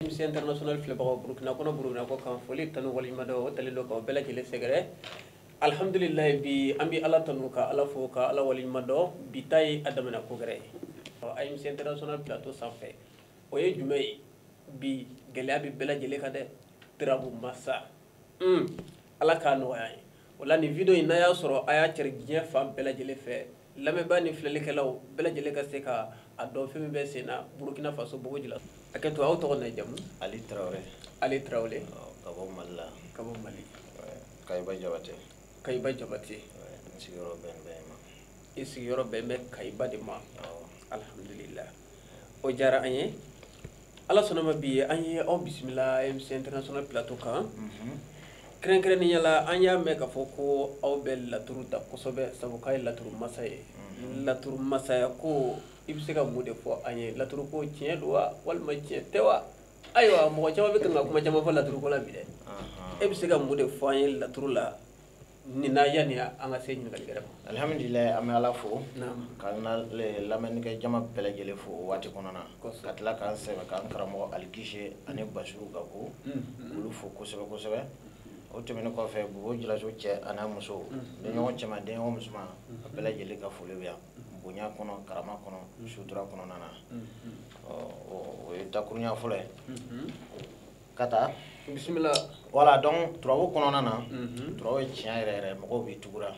AMC international filɛbagaw burukina kɔnɔ burukina kɔ kan foli tanu waleɲumandɔn o talen don k'aw bɛɛ lajɛlen sɛgɛrɛ alhamdulilayi bi an bɛ ala tanu ka ala fo ka ala waleɲuman dɔn bi ta ye a damana ko gɛrɛ ye AMC international plateau sanfɛ o ye jumɛn ye bi gɛlɛya bɛ bɛɛ lajɛlen kan dɛ turabu masa ala k'a nɔgɔya ye o la nin video in n'a y'a sɔrɔ a y'a cari diɲɛ fan bɛɛ lajɛlen fɛ lamɛnbaa ni filɛlikɛlaw bɛɛ lajɛlen ka se ka a dɔn fɛn min bɛ sen na burukina faso bobo jula hakɛ to aw tɔgɔ n'a jamu ali tarawele ali tarawele ka bɔ mali la ka bɔ mali kayiba jabate kayiba jabate n sigiyɔrɔ bɛ bɛn ma i sigiyɔrɔ bɛ bɛn kayiba de ma alhamdulillah o diyara an ye ala sɔnna a ma bi an ye aw bisimila AMC international plateau kan mhm. kɛrɛnkɛrɛnnenya la an y'a mɛn k'a fɔ ko aw bɛ laturu da kosɛbɛ sabu k'a ye laturu masa ye mhm. laturu masaya ko i bɛ se ka mun de fɔ an ye laturu ko tiɲɛ don wa walima tiɲɛ tɛ wa ayiwa mɔgɔ caman bɛ kan ka kuma caman fɔ laturu ko la bi dɛ e bɛ se ka mun de fɔ an ye laturu la Nin na yanni an ka se ɲininkali wɛrɛ ma. Alihamidulila an bɛ Ala fo. Naamu. Ka an ka lamɛnnikɛ jama bɛɛ lajɛlen fo o waati kɔnɔna. Kosɛbɛ. Ka tila k'an sɛmɛ k'an karamɔgɔ Ali Gise ani Basiru Gaku. Unhun. K'olu fo kosɛbɛ kosɛbɛ. O tɛmɛnen kɔfɛ Bobo Julaso cɛ a n'a muso. Unhun. Den ɲɔgɔn cɛman den ɲɔgɔn musoman. Unhun. A bɛɛ lajɛlen ka foli bɛ yan. Unhun. Bonya kɔnɔ, karama kɔnɔ. Unhun. Sutura kɔnɔna na. Unhun. Ɔ o ye dakuruɲa fɔlɔ ye. Unhun. ka taa bisimila wala donc turabu kɔnɔna na mhm. turabu ye tiɲɛ yɛrɛ yɛrɛ mɔgɔw bɛ tugura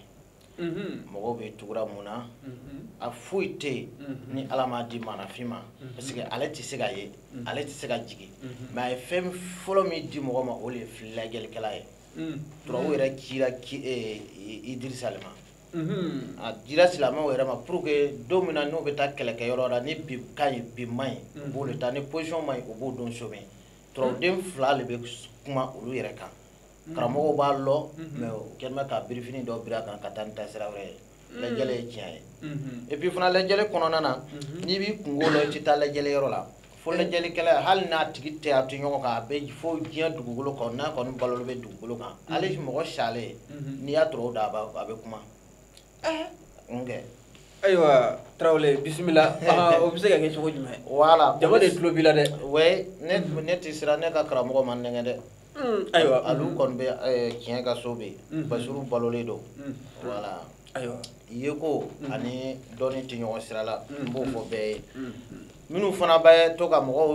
mhm. mɔgɔw bɛ tugura mun na mhm. a foyi tɛ yen ni ala m'a di maaninfin ma parce que ale tɛ se ka ye ale tɛ se ka jigin mais a ye fɛn fɔlɔ min di mɔgɔ ma o de ye lajɛlikɛla ye turabu yɛrɛ cira eh, idirisa le ma Mhm. a dira silamɛw yɛrɛ ma pour que don min na n'u bɛ taa kɛlɛkɛ yɔrɔ la ni bi ka ɲi bi man ɲi u b'o de taa ni position man ɲi u b'o dɔn somɛ turabuden fila de bɛ kuma olu yɛrɛ kan mhm. karamɔgɔw b'a lɔn mhm. mais u kɛlen bɛ ka birifini dɔ biri a kan ka taa ni taasira wɛrɛ ye lajɛli ye tiɲɛ ye et puis fana lajɛli kɔnɔna na n'i b'i kunko lɔn i tɛ taa lajɛli yɔrɔ la fo lajɛlikɛla hali n'a tigi tɛ a to ɲɔgɔn kan a bɛ fo diɲɛ dugukolo kan n'a kɔni balolen bɛ dugukolo kan mm-hmm. hali mɔgɔ salen mm-hmm. n'i y'a turabu da a bɛ kuma eh. nkɛ ayiwa tarawele bisimila ah, o bɛ se ka kɛ cogo jumɛn wala jama de tulo b'i la dɛ wɛ ne mm-hmm. ne tɛ siran ne ka karamɔgɔ ma n nɛgɛn dɛ mm, ayiwa alu kɔni bɛ eh, tiɲɛ ka so bɛ yen basiru balolen don mm. wala ayiwa yeko ani dɔnni tɛ ɲɔgɔn sira la n b'o fɔ bɛɛ ye minnu fana bɛ to ka mɔgɔw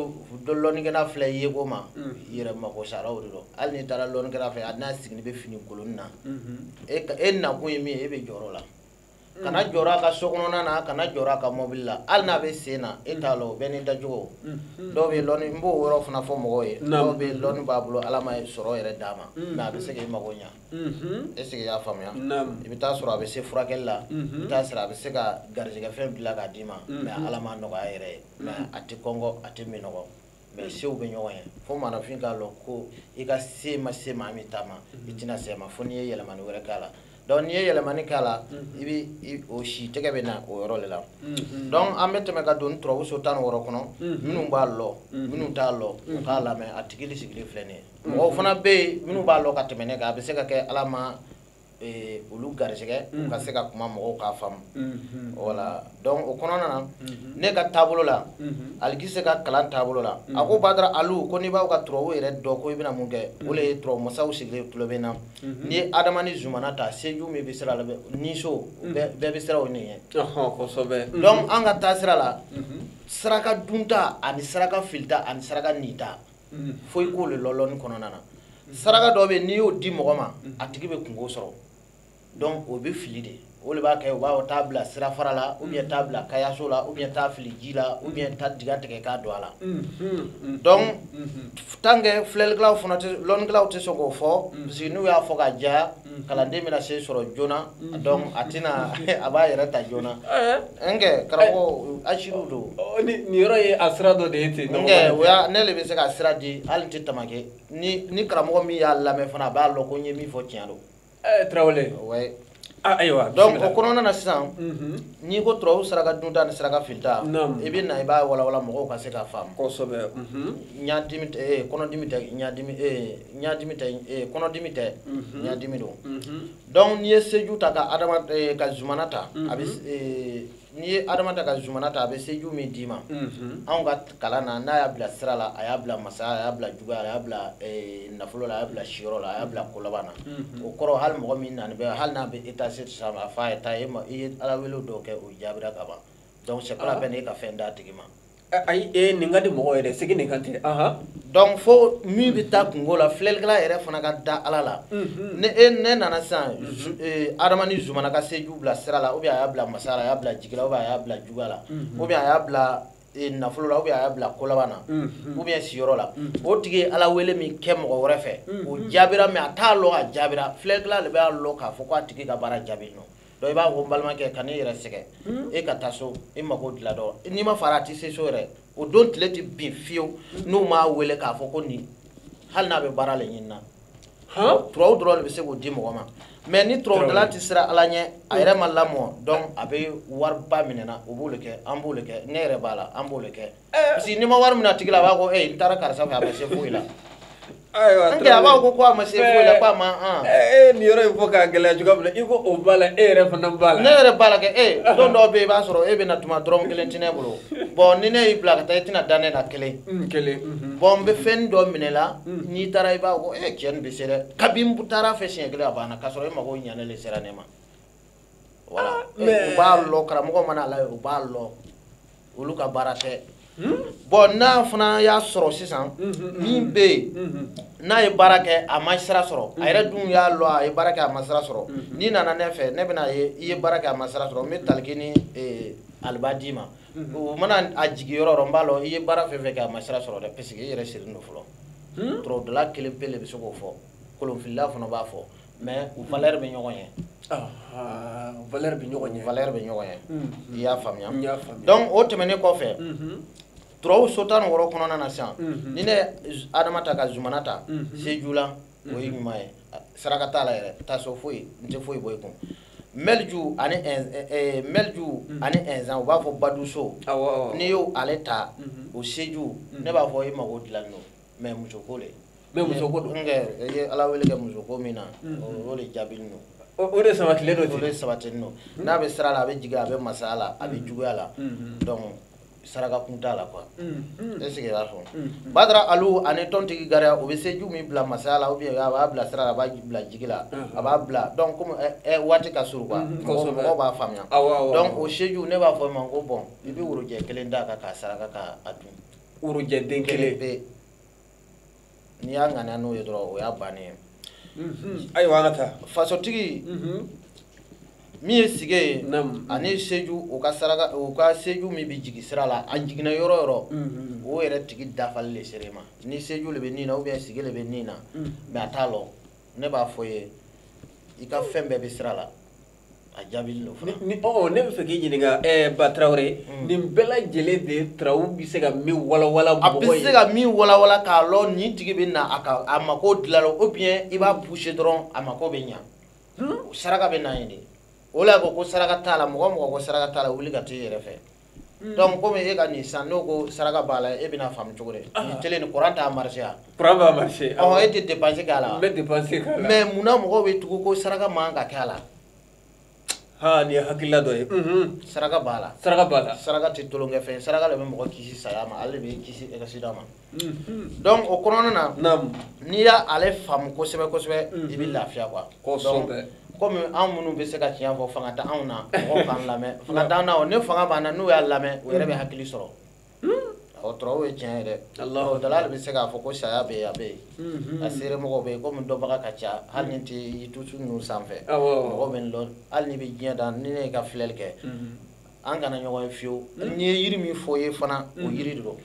lɔnnikɛla filɛ yeko ma yɛrɛ mako saraw de don hali n'i taara lɔnnikɛla fɛ a n'a sigilen bɛ fini kolon na e nakun ye min ye e bɛ jɔrɔ o la kana jɔrɔ a ka so kɔnɔna na kana jɔrɔ a ka mɔbili la hali n'a bɛ sen na e t'a lɔn bɛɛ n'i dacogo dɔw bɛ lɔnni n b'o yɔrɔ fana fɔ mɔgɔw ye dɔw bɛ lɔnni b'a bolo ala ma sɔrɔ yɛrɛ d'a ma mais a bɛ se k'i mako ɲa est-ce que i y'a faamuya i bɛ taa sɔrɔ a bɛ se furakɛli la i bɛ taa sɔrɔ a bɛ se ka garijɛgɛ fɛn dila k'a d'i ma mais ala ma nɔgɔya yɛrɛ ye mais a tɛ kɔngɔ a tɛ minɔgɔ mais sew bɛ ɲɔgɔn ye fo maaninfin k'a lɔ ko i ka se ma se maa min ta ma i tɛna se ma fo n'i ye yɛlɛmani wɛrɛ k'a la donc n'i ye yɛlɛmani k'a la i bɛ o si tɛgɛ bɛ na o yɔrɔ le la donc an bɛ tɛmɛ ka don turabu so tan wɔɔrɔ kɔnɔ minnu b'a lɔ minnu t'a lɔ u k'a lamɛn a tigi sigilen filɛ nin ye mɔgɔw fana bɛ yen minnu b'a lɔ ka tɛmɛ ne kan a bɛ se ka kɛ ala ma eh, olu garijɛgɛ u ka se ka kuma mɔgɔw k'a faamu voilà donc o kɔnɔna na ne ka taabolo la alikise ka kalan taabolo la a ko badara alu ko n'i b'a fɛ ka turabu yɛrɛ dɔn ko i bɛna mun kɛ o le ye turabu masaw sigilen tulo bɛ na n'i ye adama ni zumana ta seju min bɛ sira la bɛ- ni so bɛɛ bɛɛ bɛ sira o nin ye Ɔhɔn, kosɛbɛ donc an ka taa sira la saraka dunta ani saraka filita ani saraka nita mm. fo i k'o le lɔ lɔnni kɔnɔna na mm. saraka dɔ bɛ n'i y'o di mɔgɔ ma mm. a tigi bɛ kunko sɔrɔ donc o bɛ fili de o de b'a kɛ u b'a fɔ taa bila sirafara la ou bien taa bila kayaso la ou bien taa fili ji la ou bien taa diga tigɛ k'a don a la donc tant que filɛlikɛlaw fana tɛ lɔnnikɛlaw tɛ sɔn k'o fɔ parce que n'u y'a fɔ ka jɛya Mm. kalanden bɛna se sɔrɔ joona mm. donc a tɛna a b'a yɛrɛ ta joona eh? nka karamɔgɔ asiriw don nin yɔrɔ ye a sira dɔ de ye ten nkɛ o y'a ne de bɛ se ka sira di hali n tɛ tamaki ni ni karamɔgɔ min y'a lamɛn fana a b'a lɔn ko n ye min fɔ tiɲɛ don eh, tarawele ouais ah, ayiwa donc o kɔnɔna na sisan mm-hmm. n'i ko turabu saraka dunta ni saraka filita i bɛ na i b'a walawala mɔgɔw ka se k'a faamu kosɛbɛ mm-hmm. ɲadimi eh, kɔnɔdimi tɛ ɲadimi ɲadimi tɛ eh, kɔnɔdimi tɛ mhm. ɲadimi don mhm. donc n'i ye seju ta ka adama eh, ka zumana ta a bɛ mhm. eh, n'i ye adama ta ka zumana ta a bɛ seju min d'i ma anw ka kalan na n'a y'a bila sira la a y'a bila masaya a y'a bila juguya a y'a bila nafolo la a y'a bila siyɔrɔ la a y'a bila kolaban na o kɔrɔ hali mɔgɔ min nani bɛ hali n'a bɛ eta se sa a fa ye ta i ye ala wele dɔw kɛ o jaabira ka ban donc c'est pas la ah. peine e ka fɛn d'a tigi ma ayi e nin ka di mɔgɔ yɛrɛ sigi nin kan tɛ donc fo min bɛ taa kungo la filɛlikɛla yɛrɛ fana ka da ala la ne e ne nana sisan adama ni zumana ka seju bila sira la ou bien a y'a bila masa la a y'a bila jigi la ou bien a y'a bila juguya la ou bien a y'a bila nafolo la ou bien a y'a bila kolaban na ou bien siyɔrɔ la o tigi ye ala wele min kɛ mɔgɔ wɛrɛ fɛ o jaabira mais a t'a lɔn a jaabira filɛlikɛla de b'a lɔn k'a fɔ ko a tigi ka baara jaabi nɔ donc i b'a fɔ balimakɛ kan'i yɛrɛ sɛgɛn hmm? e ka taa so i mako dilan don n'i ma fara a tɛ se so yɛrɛ o don tile tɛ bin fiyewu hmm? n'u m'a wele k'a fɔ ko nin hali n'a bɛ baara le ɲinina turaw dɔrɔn le bɛ se k'o di mɔgɔ ma mais ni turawudala tɛ siran ala ɲɛ a yɛrɛ ma lamɔ donc a bɛ wariba minɛna o b'o le kɛ an b'o le kɛ ne yɛrɛ b'a la an b'o le kɛ parce que n'i ma wari minɛ a tigi la a b'a ko ee n taara karisa fɛ a ma se foyi la ayiwa a b'a ko ko a ma se foyi la ko a ma an ee nin yɔrɔ in fɔ k'a gɛlɛya cogoya min na i ko o b'a la e yɛrɛ fana b'a la ne yɛrɛ b'a la kɛ ee don dɔw bɛ yen i b'a sɔrɔ e bɛ na tuma dɔrɔmɛ kelen tɛ ne bolo bon ni ne y'i bila ka taa i tɛna da ne na kelen bon n bɛ fɛn dɔ minɛ la n'i taara i b'a ko ee cɛ nin bɛ se dɛ kabini n taara a fɛ siɲɛ kelen a banna k'a sɔrɔ e mago ɲɛnen le sera ne ma Ah, u b'a lɔ karamɔgɔ mana la u b'a lɔ olu ka baara tɛ hmm? bon n'a fana y'a sɔrɔ sisan hmm, hmm, min bɛ yen n'a ye baara kɛ a ma sira sɔrɔ a yɛrɛ dun y'a lɔ a ye baara kɛ a ma sira sɔrɔ n'i nana ne fɛ ne bɛn'a ye i ye baara kɛ a ma sira sɔrɔ n bɛ taliki ni eh, aliba d'i ma o mana a jigin yɔrɔ yɔrɔ n b'a lɔ i ye baara fɛn fɛn kɛ a ma sira sɔrɔ dɛ parce que i yɛrɛ sirilen don fɔlɔ turawudala kelen pe le bɛ se k'o fɔ kolonfilila fana b'a fɔ mais u valeur bɛ ɲɔgɔn ye valeur bɛ ɲɔgɔn ye valeur bɛ ɲɔgɔn ye i y'a faamuya donc o tɛmɛnen kɔfɛ turaw so tan ni wɔɔrɔ kɔnɔna na sisan ni ne adama ta ka zumana ta seju la o ye ɲuman ye saraka t'a la yɛrɛ taa so foyi n tɛ foyi bɔ i kun mɛliju ani mɛliju ani inzan u b'a fɔ baduso n'i y'o ale ta o seju ne b'a fɔ i mago dilan don mais muso ko le mais muso ko don i ye ala wele kɛ muso ko min na o de jaabinen don o de sabatilen don o de sabatinen don n'a bɛ sira la a bɛ jigin a bɛ masaya la a bɛ juguya la donc saraka kun t'a la quoi est-ce que i y'a fɔ badara ali ani tɔntigi gariya o bɛ seju min bila masaya la ou bien a b'a bila sira la a b'a bila jigi la a b'a bila donc comme waati ka surun quoi mɔgɔw b'a faamuya donc o seju ne b'a fɔ i ma ko bon i bɛ worojɛ kelen d'a kan k'a saraka k'a dun worojɛ den kelen pe n'i y'a ŋaniya n'o ye dɔrɔn o y'a bannen ye mhm. ayiwa an ka taa fasotigi mhm. min ye sige ye ani seju u ka saraka o ka seju min bɛ jigin sira la a jiginna yɔrɔ o yɔrɔ mhm. o yɛrɛ tigi dafali le sera i ma ni seju le bɛ nin na ou bien sige le bɛ nin na mais a t'a lɔ ne b'a fɔ ye i ka fɛn bɛɛ bɛ sira la a jaabinen don fana ni ɔ ne bɛ fɛ k'i ɲininka ɛɛ eh, ba tarawele hmm. nin bɛɛ lajɛlen de turaw bɛ se ka min walawala mɔgɔ ye a bɛ se ka min walawala k'a lɔ nin tigi bɛ na a ka a mako dilan ou bien i b'a pousser dɔrɔn a mako bɛ ɲa hmm? saraka bɛ na yen de o la ko ko saraka t'a la mɔgɔ mɔgɔ ko saraka t'a la wuli ka t'i yɛrɛ fɛ Mm. donc comme e ka nin sisan n'o ko saraka b'a la e bɛna faamu cogo di ah. nin télé ni courant t'a marché a courant b'a marché ɔ ah. e tɛ dépense k'a la n bɛ dépense k'a la mais munna mɔgɔw bɛ tugu ko saraka man kan ka kɛ a la ha nin ye hakilila dɔ ye mhm. saraka b'a la saraka b'a la saraka tɛ tulonkɛ fɛn saraka de bɛ mɔgɔ kisi saya ma ale de bɛ kisi accident ma Mhm. donc o kɔnɔna na n'i y'ale faamu kosɛbɛ kosɛbɛ mhm. i bɛ lafiya quoi kosɛbɛ komi an minnu bɛ se ka tiɲɛ fɔ fanga tɛ anw na mɔgɔw k'an lamɛn fanga t'an na o ni fanga b'an na n'u y'a lamɛn o yɛrɛ bɛ hakili sɔrɔ o turaw ye tiɲɛ ye dɛ dala de bɛ se k'a fɔ ko saya bɛ yen a bɛ yen mhm. a seere mɔgɔw bɛ yen komi dɔnbaga ka ca hali n'i tɛ YouTube ninnu sanfɛ mɔgɔw bɛ n lɔn hali n'i bɛ diɲɛ dan ni ne y'i ka filɛli kɛ an kana ɲɔgɔn ye fiyewu hmm. n'i ye yiri min fɔ ye fana o hmm. yiri de don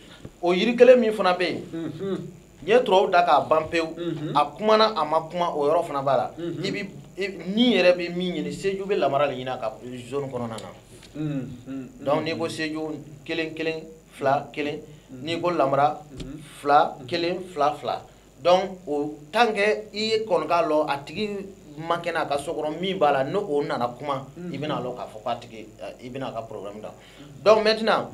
o yiri kelen min fana bɛ yen hmm. n ye turaw da k'a ban pewu a kumana a ma kuma o yɔrɔ fana b'a la i bi nin yɛrɛ bɛ min ɲini seju bɛ lamara de ɲini a ka zone kɔnɔna na donc n'i ko seju kelen kelen fila kelen n'i ko lamara fila kelen fila fila donc o tant que i ye kɔni k'a lɔn a tigi man kɛnɛ a ka so kɔnɔ min b'a la n'o nana kuma i bɛna lɔn k'a fɔ k'a tigi i bɛna a ka problème da donc maintenant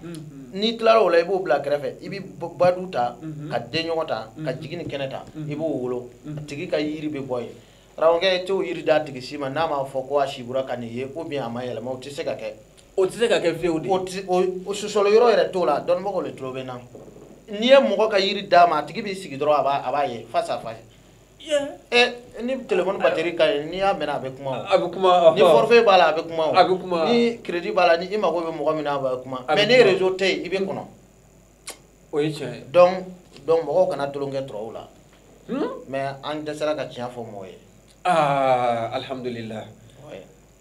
n'i tilara o la i b'o bila kɛrɛfɛ i bɛ badu ta ka denɲɔgɔn ta ka jigi ni kɛnɛ ta i b'o wolo a tigi ka yiri bɛ bɔ yen Karamɔgɔkɛ t'o yiri d'a tigi si ma n'a m'a fɔ ko a sibora ka nin ye ou bien a ma yɛlɛma o tɛ se ka kɛ o tɛ se ka kɛ fiyewu de o tɛ o o sɔsɔli yɔrɔ yɛrɛ t'o la dɔnnibagaw de tulo bɛ n na n'i ye mɔgɔ ka yiri d'a ma a tigi b'i sigi dɔrɔn a b'a a b'a ye face à face ɛ ni téléphone batterie ka ɲi n'i y'a mɛnɛ a bɛ kuma o a bɛ kuma ni forfait b'a la a bɛ kuma o a bɛ kuma ni crédit b'a la ni i mago bɛ mɔgɔ min na a bɛ kuma mais ni réseau tɛ yen i bɛ kɔnɔ o ye tiɲɛ ye donc donc mɔgɔw kana tulonkɛ turaw la hmm? mais an dɛsɛra ka tiɲɛ fɔ mɔgɔ ye ah alhamdulillah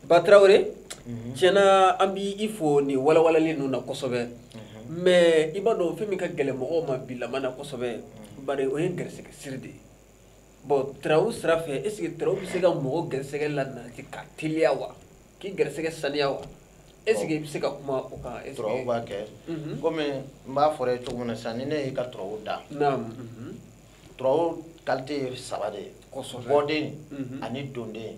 ba tarawele mhm. tiɲɛna an b'i fo nin walawalali ninnu na kosɛbɛ mhm. mais i b'a dɔn fɛn min ka gɛlɛn mɔgɔw ma bi lamɔ na kosɛbɛ mhm. bari o ye gɛrɛsɛgɛ siri de ye bon turaw sira fɛ est ce que turaw bɛ se ka mɔgɔ gɛrɛsɛgɛ lanati ka teliya wa k'i garisɛgɛ saniya wa est ce que i bɛ se ka kuma o kan est ce que turaw b'a kɛ komi n b'a fɔra i ye cogo min na sisan ni ne y'i ka turaw da turaw qualité ye saba de ye bɔden ani donden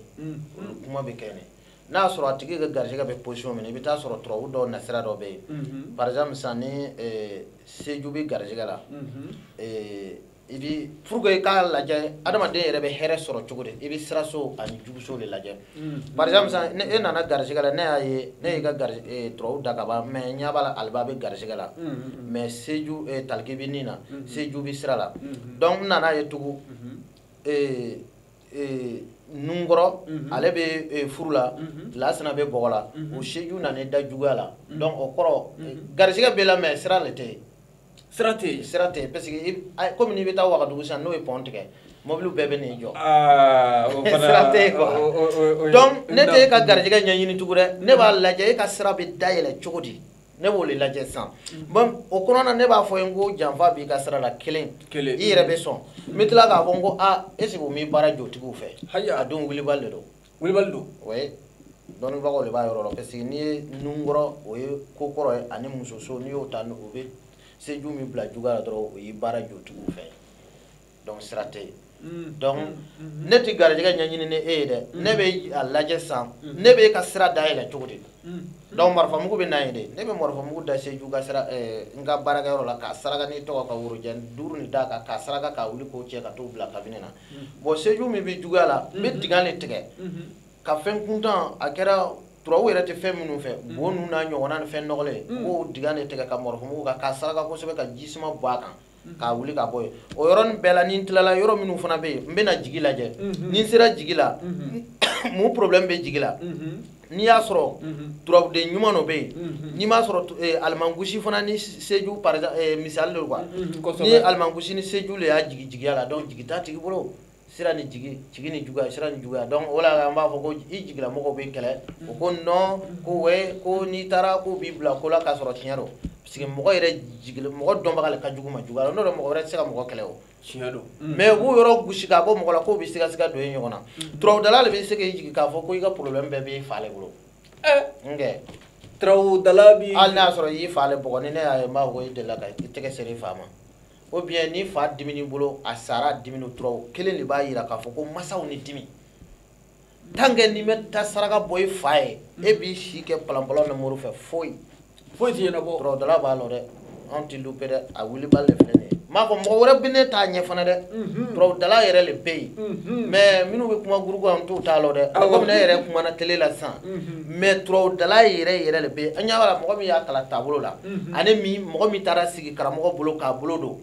olu kuma bɛ kɛ nin n'a y'a sɔrɔ a tigi ka garisɛgɛ bɛ position min na i bɛ t'a sɔrɔ turabu dɔw nasira dɔ bɛ yen par exemple sisan ni seju bɛ garisɛgɛ la i bi pour que i k'a lajɛ adamaden yɛrɛ bɛ hɛrɛ sɔrɔ cogo di i bɛ siraso ani juguso de lajɛ par exemple sisan ni e nana garisigɛ la ne y'a ye ne y'i ka gari eh, turaw da ka ban mais n ɲɛ b'a la aliba bɛ garisigɛ la mais seju eh, taliki bɛ ni na seju bɛ sira la donc n nana ye tugun eh, eh, nunkɔrɔ ale bɛ eh, furu la lasina bɛ bɔgɔ la o seju nana da juguya la donc o kɔrɔ eh, garisigɛ b'i la mais sira le tɛ yen sira tɛ yen sira tɛ yen parce que komi n'i bɛ taa wagadugu sisan n'o ye pɔn tigɛ mɔbiliw bɛɛ bɛ n'i jɔ ah, sira tɛ yen quoi donc ne tɛ e ka garijɛgɛ ɲɛɲini tugun dɛ ne b'a lajɛ e ka sira bɛ dayɛlɛ cogo di ne b'o le lajɛ sisan bon o kɔnɔ na ne b'a fɔ i ye n ko janfa b'i ka sira la kelen i yɛrɛ bɛ sɔn n bɛ tila k'a fɔ n ko aa est ce que o m'i baara jotigiw fɛ a dun wulibali le don wulibali don oui dɔnnibagaw de b'a yɔrɔ la parce que n'i ye nunkɔrɔ o ye ko kɔrɔ ye ani musoso n'i y'o ta o bɛ seju min bila juguya la dɔrɔn o y'i baara jotigiw fɛ donc sira tɛ yen mm. donc mm, mm, ne tɛ garijɛgɛ ɲɛɲini ni e ye dɛ ne bɛ a lajɛ sisan ne bɛ e ka sira dayɛlɛ cogo di donc marifamugu bɛ na yen de ne bɛ marifamugu da seju ka sira eh, n ka baarakɛyɔrɔ la k'a saraka n'i tɔgɔ ka worojɛ duuru nin d'a kan k'a saraka k'a wuli k'o cɛ ka t'o bila kabinɛ na bon seju min bɛ juguya la n bɛ dingɛ le tigɛ ka fɛn kuntan a kɛra turaw yɛrɛ tɛ fɛn minnu fɛ bo ninnu n'a ɲɔgɔnna ni fɛn nɔgɔlen k'o dingɛ le tigɛ ka marifamugu kan k'a saraka kosɛbɛ ka ji suma bɔn a kan k'a wuli ka bɔ yen o yɔrɔnin bɛɛ la ni n tilala yɔrɔ minnu fana bɛ yen n bɛna jigi lajɛ ni n sera jigi la mun problème bɛ jigi la n'i y'a sɔrɔ turabuden ɲuman dɔ bɛ yen n'i m'a sɔrɔ alimankusi fana ni seju par misali de quoi ni alimankusi ni seju le y'a jigin jigiya la donc jigi t'a tigi bolo sira ni jigi jigi ni juguya sira ni juguya donc o la an b'a fɔ ko i jigilamɔgɔw b'i kɛlɛ o ko non ko wɛ ko n'i taara k'o b'i bila ko la k'a sɔrɔ tiɲɛ don parce que mɔgɔ yɛrɛ jigile mɔgɔ dɔnbaga le ka jugu ma juguya la n'o tɛ mɔgɔ wɛrɛ tɛ se ka mɔgɔ kɛlɛ o tiɲɛ don mm. mais u b'o yɔrɔ gosi k'a bɔ mɔgɔ la k'o bɛ sigasiga don ye ɲɔgɔn na mm. turabudala le bɛ se k'i jigin k'a fɔ ko i ka problème bɛɛ b'i fa le bolo eh. nkɛ turabudala bi hali n'a sɔrɔ i y'i fa le bugɔ ni ne y'a ye n b'a fɔ ko i delila ka i tɛgɛ seri i fa ma ou bien n'i fa dimini bolo a sara dimini turaw kelen de b'a jira k'a fɔ ko masaw ni dimi tant que n'i ma taa saraka bɔ i fa ye e b'i si kɛ palanpalan na moriw fɛ foyi foyi ti ɲɛnabɔ turabudala b'a lɔn dɛ anw ti louper dɛ a wulibali de filɛ nin ye m'a fɔ mɔgɔ wɛrɛ bi ne t'a ɲɛ fana dɛ turabudala mhm. yɛrɛ le bɛ yen mhm. mais minnu bɛ kuma gurugu an t'u t'a lɔn dɛ komi ne yɛrɛ kumana tele la sisan mhm. mais turabudala yɛrɛ yɛrɛ le bɛ yen an ɲɛ b'a la mɔgɔ min y'a kalan taabolo la ani min mɔgɔ min taara sigi karamɔgɔ bolo k'a bolo don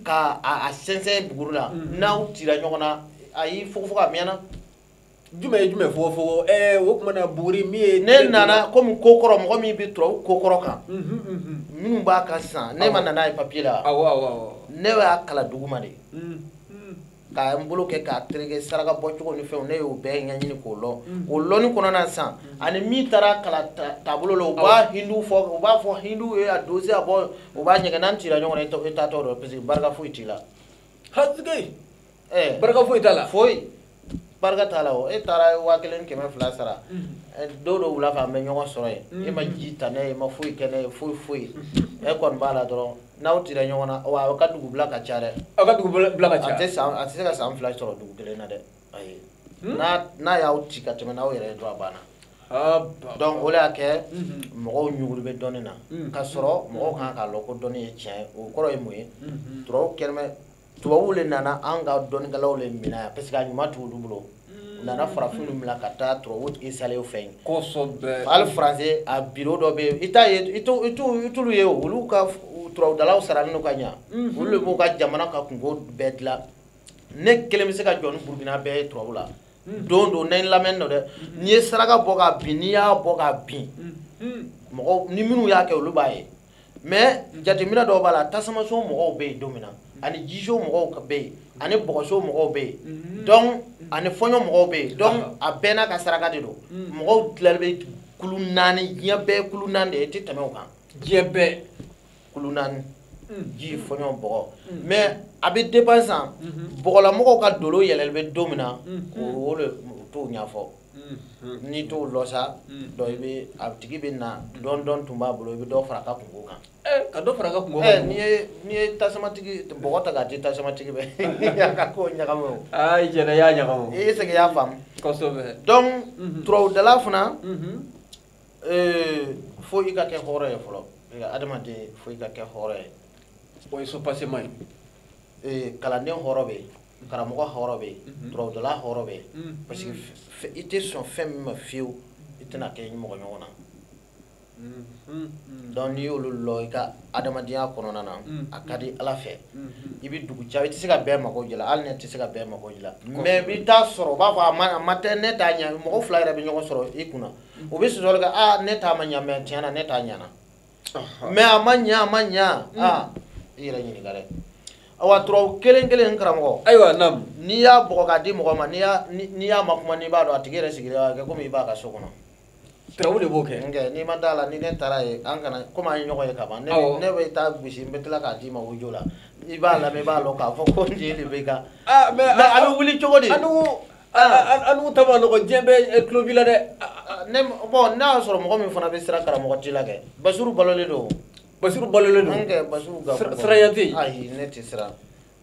ka a sɛnsɛn buguri la n'aw tira ɲɔgɔn na ayi fogofogo a mɛnna jumɛn ye jumɛn fɔ fɔ ɛɛ o tuma na buguri min ye. ne nana komi ko kɔrɔ mɔgɔ min bɛ turabu ko kɔrɔ kan. minnu b'a kan sisan ne ma na n'a ye papiye la. awɔ awɔ awɔ. ne y'a kalan duguma de. ka n bolo kɛ k'a tereke saraka bɔ cogo ni fɛnw ne y'o bɛɛ ɲɛɲini k'o lɔn o lɔnni kɔnɔna sisan ani min taara kalan taabolo la u b'a hindu fɔ u b'a fɔ hindu ye a dosi a bɔ u b'a ɲɛgɛn n'an cira ɲɔgɔn na i taatɔ don parce que barika foyi t'i la. ɛɛ barika foyi t'a la foyi barika t'a la o e taara waa kelen kɛmɛ fila sara don dɔ wula fɛ an bɛ ɲɔgɔn sɔrɔ yen e ma ji ta ne ye e ma foyi kɛ ne ye foyi foyi e kɔni b'a la dɔrɔn n'aw tira ɲɔgɔn na wa aw ka dugubila ka ca dɛ aw ka dugubila ka ca a tɛ san a tɛ se ka san fila sɔrɔ dugu kelen na dɛ ayi hmm? n'a n'a y'aw ci ka tɛmɛ n'aw yɛrɛ ye dɔrɔn a banna donc o de y'a kɛ mhm. mɔgɔw ɲugulen bɛ dɔnni na mhm. ka sɔrɔ mɔgɔw ka kan k'a lɔn ko dɔnni ye tiɲɛ ye o kɔrɔ ye mun ye turabu kɛlen bɛ tubabuw le nana an ka dɔnnikɛlaw le minɛ yan parce que a ɲuman t'olu bolo u nana farafinw minɛ ka taa tubabuw tigi salew fɛ yen kosɛbɛ hali faransi a biro dɔ bɛ yen i t'a ye i t'u- i t'u- i t'olu ye o, olu ka f- u- turabudalaw saralen don ka ɲa Mhm. olu le b'u ka jamana ka kunko bɛɛ dilan ne kelen bɛ se ka jɔ ni burukina bɛɛ ye turabu la don don ne lamɛnni don dɛ n'i ye saraka bɔ ka bɛn n'i y'a bɔ ka bɛn mɔgɔw ni minnu y'a kɛ olu b'a ye mais jateminɛ dɔw b'a la tasumaso mɔgɔw bɛ yen don min na ani jiso mɔgɔw bɛ yen ani bɔgɔso mɔgɔw bɛ yen mhm. donc ani fɔɲɔ mɔgɔw bɛ yen donc a bɛɛ n'a ka saraka de don mhm. mɔgɔw tilalen bɛ kulu naani diɲɛ bɛɛ kulu naani de ye i tɛ tɛmɛ o kan diɲɛ bɛɛ kulu naani mhm. ji fɔɲɔ bɔgɔ mais a bɛ dépend sisan bɔgɔlamɔgɔw ka dolo yɛlɛlen bɛ don min na o de t'o ɲɛfɔ n'i t'o lɔn sa donc i bɛ a tigi bɛ na donc dɔɔni tun b'a bolo i bɛ dɔ fara a ka kunko kan ka dɔ fara a ka kunko kan n'i n'i ye tasumatigi bɔgɔ ta k'a di tasumatigi bɛ a ka ko ɲagami o aa i jɛna i y'a ɲagami est-ce que i y'a faamu kosɛbɛ donc turabudala fana fo i ka kɛ hɔrɔn ye fɔlɔ adamaden fo i ka kɛ hɔrɔn ye o ye soubassement ye kalanden hɔrɔn bɛ yen karamɔgɔ hɔrɔn bɛ yen turabudala hɔrɔn bɛ yen parce que i tɛ sɔn fɛn min ma fiyewu i tɛn'a kɛ mɔgɔ ɲɔgɔn na donc n'i y'olu lɔn i ka adamadenya kɔnɔna na a ka di ala fɛ i bɛ dugu ca i tɛ se ka bɛɛ mago dilan hali ne tɛ se ka bɛɛ mago dilan mais i bɛ t'a sɔrɔ u b'a fɔ a ma tɛ ne t'a ɲɛ mɔgɔ fila yɛrɛ bɛ ɲɔgɔn sɔrɔ i kunna u bɛ sɔsɔli kɛ aa ne ta ma ɲɛ mais tiɲɛ na ne ta ɲɛna mais a ma ɲa a ma ɲa mm. ah, i yɛrɛ ɲininka dɛ awa turabu kelen kelen karamɔgɔ ayiwa naam n'i y'a bugɔ k'a di mɔgɔ ma n'i y'a makuma n'i b'a dɔn a tigi yɛrɛ sigilen b'a kɛ komi i b'a ka so kɔnɔ turabu de b'o kɛ nkɛ n'i ma d'a la ni ne taara yen an kana komi an ye ɲɔgɔn ye ka ban ne bɛ t'a gosi n bɛ tila k'a d'i ma audio la i b'a lamɛn i b'a dɔn k'a fɔ ko nin de b'i kan ah, a bɛ wuli cogo di anu ta ma nɔgɔ diɲɛ bɛɛ tulo b'i la dɛ ne bon n'a y'a sɔrɔ mɔgɔ min fana bɛ siran karamɔgɔ ji la kɛ basiru balolen don basiru balolen don kɛ basiru ka siranya tɛ yen ayi ne tɛ siran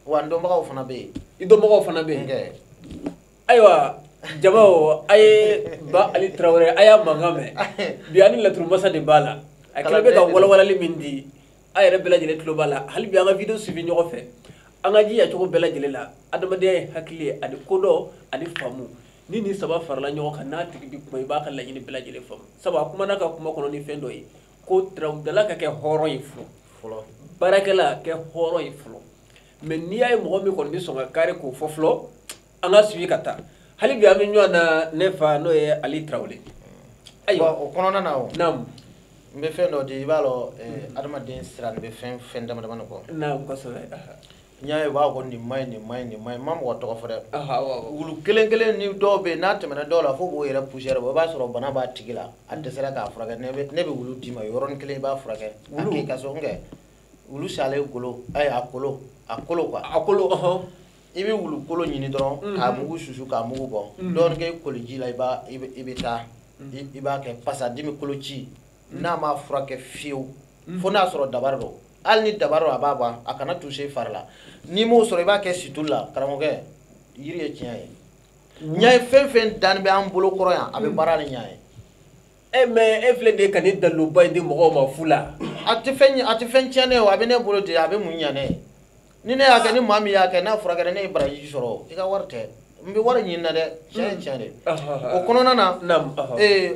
wa n dɔnbagaw fana bɛ yen i dɔnbagaw fana bɛ yen kɛ ayiwa jama o a ye ba ali tarawele a y'a mankan mɛn bi ani laturu masa de b'a la a kɛlen bɛ ka walawalali min di a yɛrɛ bɛɛ lajɛlen tulo b'a la hali bi an ka video suivi ɲɔgɔn fɛ an ka jija cogo bɛɛ lajɛlen la adamadenya ye hakili ye ani kodɔn ani faamu ni nin saba farala ɲɔgɔn kan n'a tigi bi kuma i b'a ka laɲini bɛɛ lajɛlen faamu sabu a kumana ka kuma kɔnɔ ni fɛn dɔ ye ko turabudala ka kɛ hɔrɔn ye fɔlɔ baarakɛla kɛ hɔrɔn ye fɔlɔ mais n'i y'a ye mɔgɔ min kɔni bɛ sɔn ka kari k'o fɔ fɔlɔ an ka suivi ka taa hali bi an bɛ ɲɔgɔn na ne fa n'o ye ali tarawele ayiwa o kɔnɔna na o naamu n bɛ fɛn dɔ di i b'a dɔn eh, adamaden siran bɛ fɛn fɛn dama dama de kɔ naamu kosɛbɛ n y'a ye u b'a fɔ ko nin ma ɲi nin ma ɲi nin ma ɲi n ma mɔgɔ tɔgɔ fɔ dɛ wulu kelen kelen ni dɔw bɛ yen n'a tɛmɛna dɔw la fo k'o yɛrɛ poussière bɔ i b'a sɔrɔ bana b'a tigi la a dɛsɛra k'a furakɛ ne bɛ ne bɛ wulu d'i ma yɔrɔnin kelen i b'a furakɛ a k'i ka so n kɛ wulu salen golo ayi a kolo a kolo quoi a kolo ɔhɔn i bɛ wulukolo ɲini dɔrɔn mhm. k'a mugu susu k'a mugu bɔ mhm. dɔɔnin kɛ koliji la i b'a i bɛ taa mhm. i b'a kɛ pasa dimi koloci n'a ma furakɛ fewu fo n'a sɔrɔ dabari don hali ni dabari a b'a ban a kana tuse fari la n'i m'o sɔrɔ i b'a kɛ situlu la karamɔgɔkɛ yiri ye tiɲɛ ye ɲɛ ye fɛn fɛn danni bɛ an bolo kɔrɔ yan a bɛ baara ni ɲɛ ye eh mais e filɛ de ka nin daliluba in di mɔgɔw ma fu la a tɛ fɛn a tɛ fɛn tiɲɛ ne ye a bɛ ne bolo de a bɛ mun ɲɛ ne ye ni ne y'a kɛ ni maa min y'a kɛ n'a furakɛra ne ye baraji sɔrɔ i ka wari tɛ n bɛ wari ɲini na dɛ tiɲɛ ye tiɲɛ de o kɔnɔna na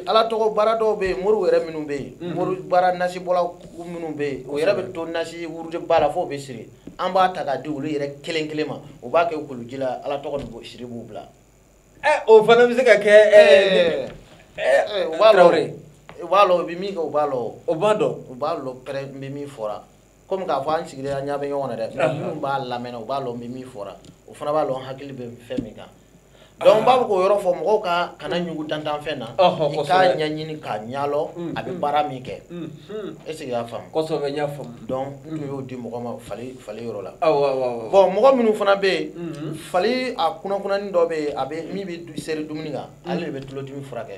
ala tɔgɔ baara dɔw bɛ yen moriw yɛrɛ minnu bɛ yen mhm. mori baara nasibɔla minnu bɛ yen o yɛrɛ bɛ to nasi wurudi ba la fo u bɛ siri an b'a ta k'a di olu yɛrɛ kelen kelen ma o b'a kɛ koliji la ala tɔgɔ nin siri b'u bila eh, o fana bɛ se ka kɛ eh, eh, u b'a lɔ u bɛ min kɛ u b'a lɔ o b'a dɔn u b'a lɔ pɛrɛ n bɛ min fɔra komi k'a fɔ an sigilen an ɲa bɛ ɲɔgɔn na dɛ mais minnu b'a lamɛnna u b'a lɔn n bɛ min fɔra o fana b'a lɔn n hakili bɛ fɛn min kan donc n b'a fɛ k'o yɔrɔ fɔ mɔgɔw ka kana ɲugu dantanfɛn na i k'a ɲɛɲini k'a ɲalɔ a bɛ baara min kɛ est ce que i y'a faamu kosɛbɛ n y'a faamu donc n tun y'o di mɔgɔ ma fali fali yɔrɔ la awɔ awɔ bon mɔgɔ minnu fana bɛ yen fali a kunakunanni dɔ bɛ yen a bɛ min bɛ seri dumuni kan ale de bɛ tulodimi furakɛ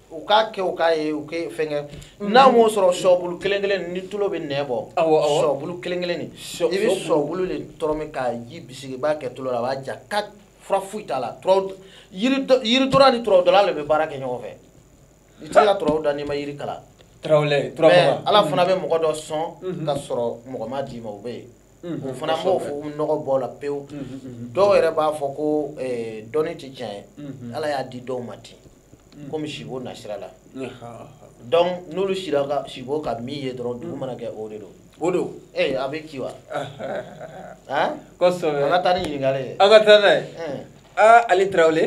u k'a kɛ u k'a ye u kɛ fɛn kɛ mm-hmm. n'a m'o sɔrɔ sɔbulu kelen kelen ni tulo bɛ nɛn bɔ sɔbulu kelen kelen nin i bɛ sɔbulu de tɔrɔmi k'a ji bisi i b'a kɛ tulo la a b'a ja ka fura foyi t'a la yiri dɔnna ni turabu dɔnna de bɛ baara kɛ ɲɔgɔn fɛ i tɛ se ka turabu da n'i ma yiri kalan mais ala fana bɛ mɔgɔ dɔ sɔn mm-hmm. ka sɔrɔ mɔgɔ ma d'i ma o bɛ yen mm-hmm. o fana b'o fɔ nɔgɔ bɔ la pewu dɔw yɛrɛ b'a fɔ ko eh, dɔnni tɛ tiɲɛ ye ala y'a di dɔw ma ten komi sibo nasira la donc n'olu sira ka sibo ka min ye dɔrɔn dugu mana kɛ o de don o don ee a bɛ ci wa han kosɛbɛ an ka taa ni ɲininkali ye an ka taa n'a ye aa ali tarawele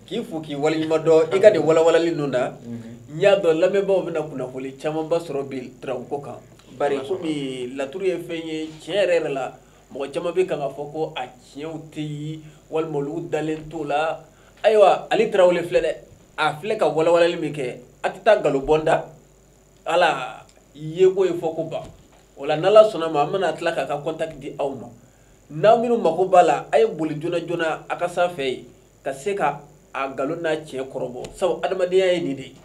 k'i fo k'i waleɲuman dɔn i ka nin walawalali ninnu na n y'a dɔn lamɛnbaaw bɛna kunnafoni camanba sɔrɔ bi turabuko kan bari komi laturu ye fɛn ye tiɲɛ yɛrɛ yɛrɛ la mɔgɔ caman bɛ kan k'a fɔ ko a tiɲɛw tɛ yen walima olu dalen t'o la ayiwa ali tarawele filɛ dɛ a filɛ ka walawalali min kɛ a tɛ taa nkalon bonda la yeko ye fɔko ban o la n'ala sɔnna a ma an bɛna tila k'a ka contact di aw ma n'aw minnu mako b'a la a ye boli joona joona a ka sanfɛ yen ka se ka a nkalon n'a tiɲɛ kɔrɔbɔ sabu adamadenya ye nin de ye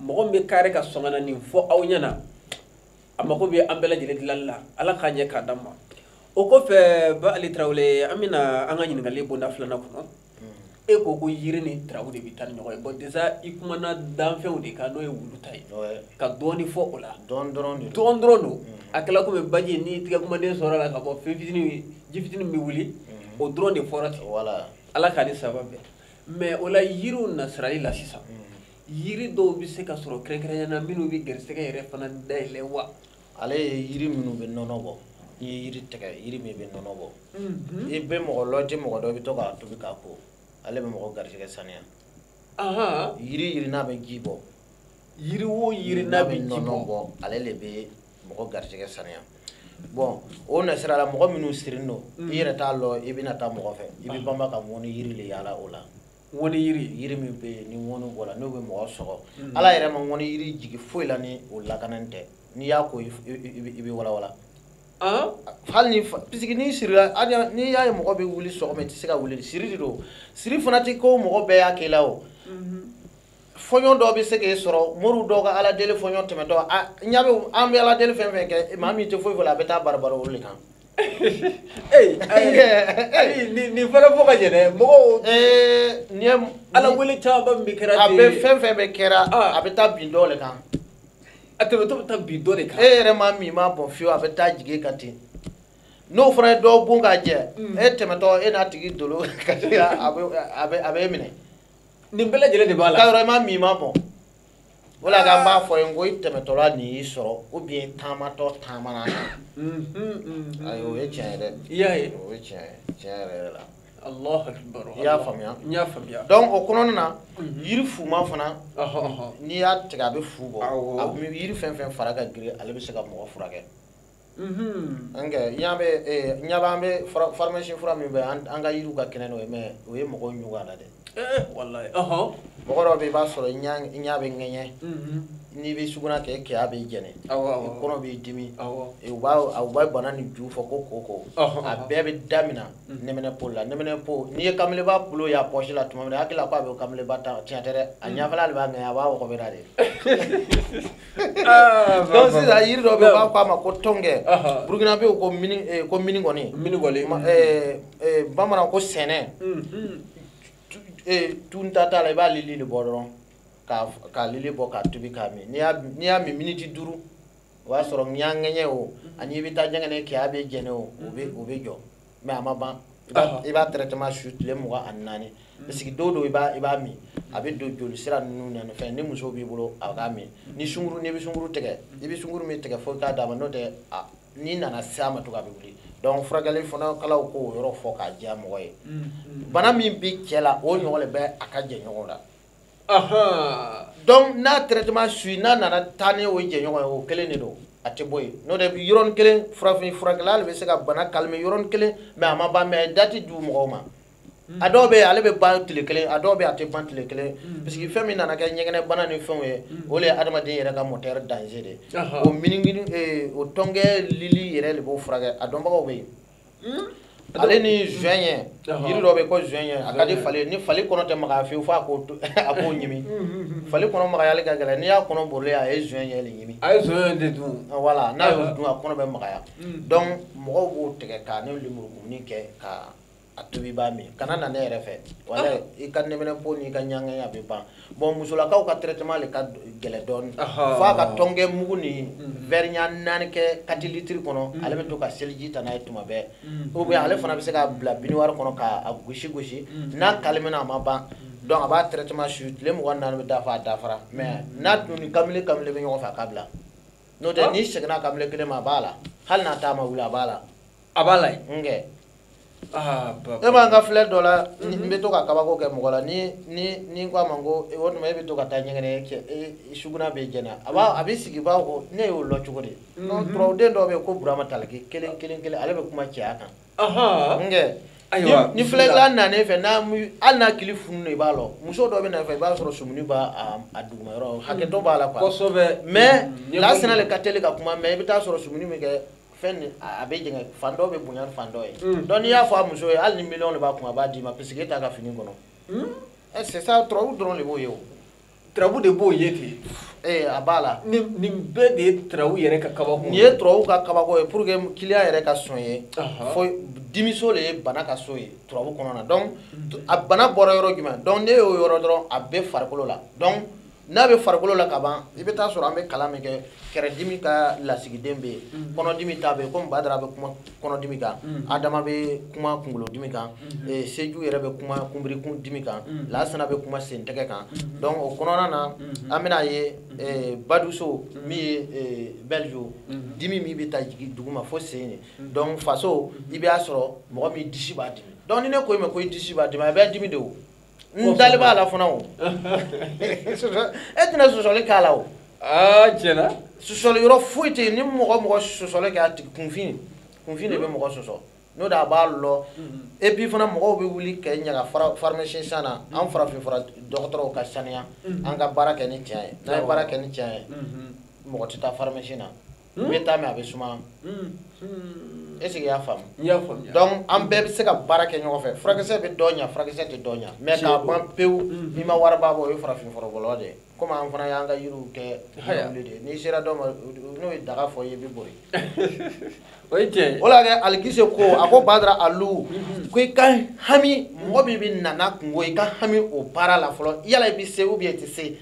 mɔgɔ min bɛ kare ka sɔn ka na nin fɔ aw ɲɛna a mako bɛ an bɛɛ lajɛlen dilanni la ala k'a ɲɛ k'a d'an ma o kɔfɛ ba ali tarawele an bɛna an ka ɲininkali bonda filanan kɔnɔ e ko ko yiri ni turabu de bɛ taa ni ɲɔgɔn ye bon déjà i kumana danfɛnw de kan n'o ye wulu ta ye ka dɔɔni fɔ o la dɔɔni dɔrɔn don a kɛla komi baji n'i tɛgɛ kumaden sɔrɔ la ka bɔ fɛn fitinin ji fitinin bɛ wuli mm-hmm. o dɔrɔn de fɔra ten ala k'a ni sababu bɛn mais o la yiriw nasirali la sisan mm-hmm. yiri dɔw bɛ se ka sɔrɔ kɛrɛnkɛrɛnya na minnu bɛ garisɛgɛ yɛrɛ fana dayɛlɛ wa ale ye yiri minnu bɛ nɔnɔ bɔ n'i ye yiri tigɛ yiri min bɛ nɔnɔ bɔ mhm. i bɛ mɔgɔ lɔjɛ mɔgɔ dɔ i bɛ to k'a tobi k'a ko ale bɛ mɔgɔ garijɛgɛ saniya yiri yiri n'a bɛ ji bɔ yiri o yiri n'a bɛ ji bɔ ale de bɛ mɔgɔ garijɛgɛ saniya bon o nasira la mɔgɔ minnu sirilen don i mhm. yɛrɛ t'a lɔn i bɛna taa mɔgɔ fɛ i bɛ banba ka ŋɔni yiri de yaala o la ŋɔni yiri yiri min bɛ yen ni ŋɔni bɔra n'o bɛ mɔgɔ sɔgɔ mm. ala yɛrɛ ma ŋɔni yiri jigi foyi la ni o lakanan tɛ n'i y'a ko i bɛ walawala hali ni puisque n'i sirila n'i y'a ye mɔgɔ bɛ wuli sɔgɔma i tɛ se ka wuli siri de don siri fana tɛ ko mɔgɔ bɛɛ y'a k'i la o mm-hmm. fɔɲɔ dɔ bɛ se k'e sɔrɔ moriw dɔw ka ala deli fɔɲɔ tɛmɛtɔ ɲa bɛ an bɛ ala deli fɛn fɛn kɛ maa min tɛ foyi fɔ a bɛ taa barabara olu de kan nin fana fɔ ka ɲɛ dɛ mɔgɔw ni ala wele caman min kɛra a bɛ fɛn fɛn bɛ kɛra a bɛ taa bin dɔ de kan a tɛmɛtɔ bɛ taa bin dɔ de kan e yɛrɛ maa min m'a bon fiyewu a bɛ taa jigin kan ten n'o fana ye dɔ bon k'a jɛ e tɛmɛtɔ e n'a tigi dolo ka a bɛ e minɛ nin bɛɛ lajɛlen de b'a la ka yɔrɔ i maa min i m'a bon o la k'an b'a fɔ yen ko i tɛmɛtɔla nin y'i sɔrɔ ou bien taamatɔ taamana na ayi o ye tiɲɛ ye dɛ i y'a ye o ye tiɲɛ ye tiɲɛ yɛrɛ yɛrɛ la Allahu akbar i y'a faamuya n y'a faamuya donc o kɔnɔna na yiri fuma fana n'i y'a tigɛ a bɛ fu bɔ yiri fɛn fɛn fara ka girin ale bɛ se ka mɔgɔ furakɛ an kɛ ɲa bɛ ɲa b'an bɛ faramasi fura min bɛ an ka yiriw ka kɛnɛ n'o ye mais o ye mɔgɔw ɲugun a la dɛ mɔgɔ dɔ bɛ i b'a sɔrɔ i ɲa bɛ ŋɛɲɛ n'i bɛ suguna kɛ kɛya b'i jɛnɛ kɔnɔ b'i dimi u b'a bananin juu fɔ ko koko a bɛɛ bɛ damina nɛminɛpo la nɛminɛpo n'i ye kamalenba bolo y'a pɔsi la tuma min a hakili la k'a bɛ kamalen ta cɛn tɛ dɛ a ɲafɛla de b'a ŋɛɲɛ a b'a wɔgɔbɛra de Ah, donc sisan yiri dɔ bɛ yen u b'a fɔ a ma ko tɔnkɛ burukinabɛw ko mini eh, ko minigɔni minigɔni eh, eh, bamanan ko sɛnɛ hmm, hmm. tunta t'a la i b'a lili de bɔ dɔrɔn k'a lili bɔ k'a tobi k'a min n'i y'a min miniti duuru o b'a sɔrɔ ɲaŋɛɲɛ o hmm. ani i bɛ taa ɲɛgɛnɛ kɛ a bɛ jɛnɛ o o bɛ jɔ mais a ma ban i b'a traitement suit tile mugan ani naani mm. parce que don don i b'a min a bɛ don joli sira ninnu na ni fɛn ni muso b'i bolo a k'a min mm. ni sunguru n'i bɛ sunguru tigɛ i bɛ sunguru min tigɛ fo i k'a d'a ma n'o tɛ n'i nana se a ma tugun a bɛ wuli donc furakɛli fana kalaw k'o yɔrɔ fɔ k'a diya mɔgɔ ye mm, bana min bɛ cɛ la o ɲɔgɔn de bɛ a ka jɛɲɔgɔn la donc n'a traitement suit n'a nana taa ni o jɛɲɔgɔn ye o kelen de don a tɛ bɔ yen n'o tɛ yɔrɔnin kelen farafin furakɛla de bɛ se ka bana calmer yɔrɔnin kelen mais a ma ban mais a ye date di mɔgɔw ma a dɔw bɛ yen ale bɛ ban tile kelen a dɔw bɛ yen a tɛ ban tile kelen mm. parce que fɛn min nana kɛ ɲɛgɛnɛbana ni fɛnw ye mm. o de ye adamaden yɛrɛ ka moteur danger de ye o minigini eh, o tɔnkɛ lili yɛrɛ de b'o furakɛ a dɔnbagaw bɛ yen Hmm? ale ni zɔɲɛ yiri dɔ bɛ ko zɔɲɛ a ka di fali ni fali kɔnɔ tɛ magaya fewu fo a k'o a k'o ɲimi hmm, hmm, fali kɔnɔ magayali ka gɛlɛn n'i y'a kɔnɔ bolilen a ye zɔɲɛ de ɲimi a ye zɔɲɛ de dun ah, voilà n'a y'o dun a kɔnɔ bɛ magaya donc mɔgɔw b'o tigɛ k'a ni lemurukumuni kɛ ka a tobi b'a min kana na ne yɛrɛ fɛ wala ah. i ka nɛminɛpo n'i ka ɲaŋɛɲɛ a bɛ ban bon musolakaw ka traitement le ka gɛlɛn dɔɔni fo a ka tɔnkɛ mugu ni mm. verre ɲɛ naani kɛ quatre litres kɔnɔ mm. ale bɛ to ka seliji ta n'a ye tuma bɛɛ mm. ou bien ale fana bɛ se k'a bila biniwari kɔnɔ k'a gosi gosi n'a calména a ma ban donc a b'a traitement suit tile mugan naani bɛ dafa a dafara mais n'a dun ni kamile kamile bɛ ɲɔgɔn fɛ a k'a bila n'o tɛ ah. n'i seginna kamile kelen ma a b'a la hali n'a ta ma wuli a b'a la a b'a la yen nkɛ ah, e b'an ka filɛ dɔ la mhm. n bɛ to ka kabako kɛ mɔgɔ la ni ni ni n ko a ma ko o tuma e bɛ to ka taa ɲɛgɛnɛ kɛ e sugunɛ bɛ jɛni a b'a a bɛ sigi b'a ko ne y'o lɔ cogo di mhm. turabuden dɔw bɛ yen ko burama taliki kelen kelen kelen ale bɛ kuma cɛya kan nkɛ ayiwa ni filɛla nanen fɛ n'a hali n'a kili funu de b'a lɔ muso dɔ bɛ na fɛ i b'a sɔrɔ sumuni b'a a duguma yɔrɔ hakɛ dɔ b'a la quoi kosɛbɛ mais lasina le ka teli ka kuma mais i bɛ taa sɔrɔ sumuni bɛ kɛ fɛn nin a bɛ jɛngɛ fan dɔ bɛ bonya ni fan dɔ ye mm. donc n'i y'a fɔ a muso ye hali ni miliyɔn de b'a kun a b'a d'i ma puisque e t'a ka fini kɔnɔ mm. eh, c'est ça turabu dɔrɔn de b'o ye o turabu de b'o ye ten ee eh, a b'a la nin nin bɛɛ de ye turabu yɛrɛ ka kabako nin ye turabu ka kabako ye pour que client yɛrɛ ka sɔn ye fo dimiso de ye bana ka so ye turabu kɔnɔna donc mm. a bana bɔra yɔrɔ jumɛn donc ne y'o yɔrɔ dɔrɔn a bɛ farikolo la donc n'a bɛ farikolo la ka ban i bɛ taa sɔrɔ an bɛ kalan min kɛ kɛrɛdimi ka lasigiden bɛ yen mm-hmm. kɔnɔdimi ta bɛ yen komi badara bɛ kuma kɔnɔdimi kan mm-hmm. adama bɛ kuma kunkolodimi kan mm-hmm. eh, seju yɛrɛ bɛ kuma kunbirikun dimi kan lasana bɛ kuma sentɛgɛ kan donc o kɔnɔna na an bɛna ye eh, baduso min ye eh, maleju dimi min bɛ taa jigin duguma fo sen ye donc faso i b'a sɔrɔ mɔgɔ min disi b'a dimi donc ni ne ko i ma ko i disi b'a dimi a bɛ dimi de o n dalen b'a la fana o e tɛna sɔsɔli k'a la o aa tiɲɛ na sɔsɔli yɔrɔ foyi tɛ yen ni mɔgɔ mɔgɔ sɔsɔli kɛ a tigi kunfin kunfin de bɛ mɔgɔ sɔsɔ n'o de a b'a lɔ et puis fana mɔgɔw bɛ wuli ka ɲaga pharmacien san na an farafin fura dɔgɔtɔrɔw ka saniya an ka baara kɛ ni tiɲɛ ye n'an ye baara kɛ ni tiɲɛ ye mɔgɔ tɛ taa pharmacie na n bɛ taa mɛ a bɛ suma est ce que i y'a faamu n y'a faamuya donc an bɛɛ bɛ se ka baara kɛ ɲɔgɔn fɛ furakisɛ bɛ dɔ ɲa furakisɛ tɛ dɔ ɲa mais k'a ban pewu n'i ma wariba bɔ o ye farafin furabɔlaw de ye komi an fana y'an ka yiriw kɛ wuli de ye n'i sera dɔ ma n'o ye daga fɔ i ye i bɛ bori o ye tiɲɛ ye o la kɛ alikise ko a ko badara alu ko i ka hami mɔgɔ min bɛ na n'a kunko ye i ka hami o baara la fɔlɔ yala i bɛ se ou bien i tɛ se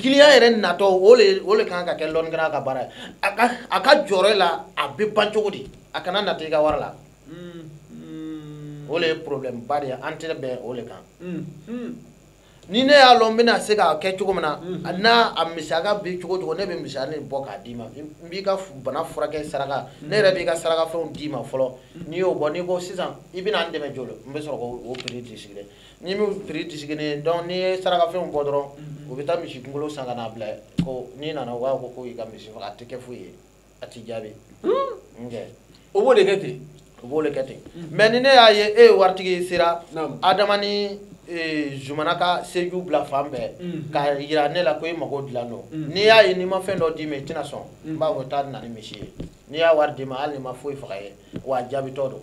client yɛrɛ natɔ o le o le kan ka kɛ lɔnnikɛla ka baara ye a ka a ka jɔrɔ la a bɛ ban cogo di a kana nata i ka wari la o le ye problème ba de ye an tɛ bɛn o le kan ni ne y'a lɔn n bɛna se k'a kɛ cogo min na n'a a musaka bɛ cogo cogo ne bɛ musaka nin bɔ k'a d'i ma n b'i ka bana furakɛ saraka ne yɛrɛ b'i ka sarakafɛnw d'i ma fɔlɔ n'i y'o bɔ n'i ko sisan i bɛna n dɛmɛ joli n bɛ sɔrɔ k'o prix de sigi dɛ n'i m'o prix disiginnen donc n'i ye sarakafɛnw bɔ dɔrɔn mm-hmm. u bɛ taa misi kunkolo san ka n'a bila ko n'i nana u b'a fɔ ko i ka misi faga a tɛ kɛ foyi ye a t'i jaabi hmm? nkɛ o b'o de kɛ ten o b'o de kɛ ten mm-hmm. mais ni ne y'a ye e ye waritigi sera adama ni e, zumana ka seju bila fan bɛɛ mm-hmm. ka yira ne la ko e mago dilan don n'i y'a ye n'i ma fɛn dɔ d'i ma i tɛna sɔn n b'a fɔ taa na ni misi ye n'i y'a wari d'i ma hali n'i ma foyi faga ye wa a jaabitɔ don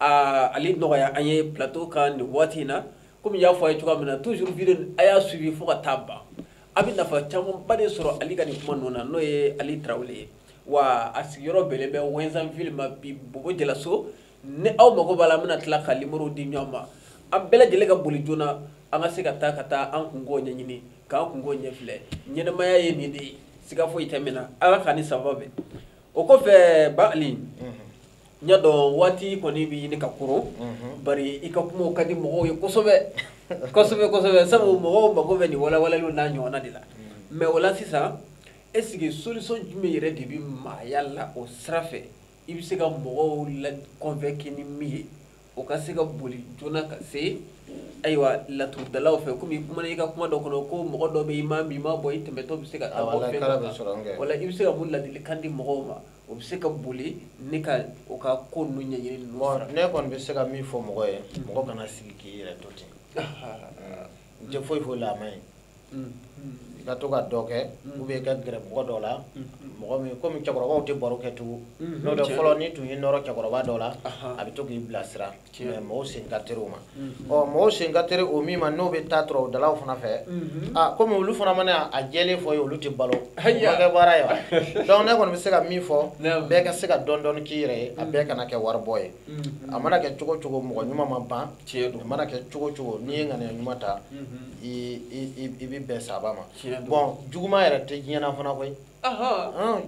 aa ale nɔgɔya an ye plateau kan nin waati in na komi n y'a fɔ a ye cogoya min na toujours video a y'a suivi fo ka taa ban a bɛ nafa camanba de sɔrɔ Ali ka nin kuma ninnu na n'o ye Ali Tarawele ye wa a sigiyɔrɔ bɛnnen bɛ Ouezzinville ma bi Bobo Julaso ni aw mago b'a la an bɛna tila ka numéro di ɲɔgɔn ma an bɛɛ lajɛlen ka boli joona an ka se ka taa ka taa an kunkow ɲɛɲini k'an kunkow ɲɛfilɛ ɲɛnamaya ye nin de ye siga foyi tɛ min na Ala k'an ni sababu bɛn o kɔfɛ ba Ali n y'a dɔn waati kɔni bɛ ɲini ka koron mhm. bari i ka kumaw ka di mɔgɔw ye kosɛbɛ kosɛbɛ kosɛbɛ sabu mɔgɔw mago bɛ nin walawalaliw n'a ɲɔgɔnna de la mhm. mais o la sisan est ce que solution jumɛn yɛrɛ de bɛ maaya la o sira fɛ i bɛ se ka mɔgɔw la convaincre ni min ye o ka se ka boli joona ka se ayiwa laturudalaw fɛ komi i kumana i ka kuma dɔ kɔnɔ ko mɔgɔ dɔ bɛ i ma min ma bɔ i tɛmɛtɔ bɛ se ka taa bɔ fɛn dɔ kan o la i bɛ se ka mun ladilikan di mɔgɔw ma o bɛ se ka boli ne ka o ka ko ninnu ɲɛɲini ninnu sira ne kɔni bɛ se ka min fɔ mɔgɔ ye mm. mɔgɔ kana sigi k'i yɛrɛ to ten n tɛ foyi foyi la a man ɲi mm. i ka to ka dɔ kɛ mm. ou bien i ka gɛrɛ mɔgɔ dɔ la mɔgɔ min komi cɛkɔrɔbaw tɛ baro kɛ tugun n'o tɛ fɔlɔ n'i tun y'i nɔrɔ cɛkɔrɔba dɔ la a bɛ to k'i bilasira mais mɔgɔw sen ka teri o ma mhm. ɔ mɔgɔw sen ka teri o min ma n'o bɛ taa laturudalaw fana fɛ mhm. a komi olu fana mana a jɛlen fɔ i ye olu tɛ balo kɛ baara ye wa donc ne kɔni bɛ se ka min fɔ bɛɛ ka se ka dɔɔni dɔɔni k'i yɛrɛ ye a bɛɛ mhm. kana kɛ waribɔ ye a mana kɛ cogo cogo mɔgɔ ɲuman ma ban tiɲɛ don a mana kɛ cogo cogo n'i ye ŋaniya ɲuman ta i bɛ bɛn sababu ma bon juguman yɛrɛ tɛ diɲɛ na fana koyi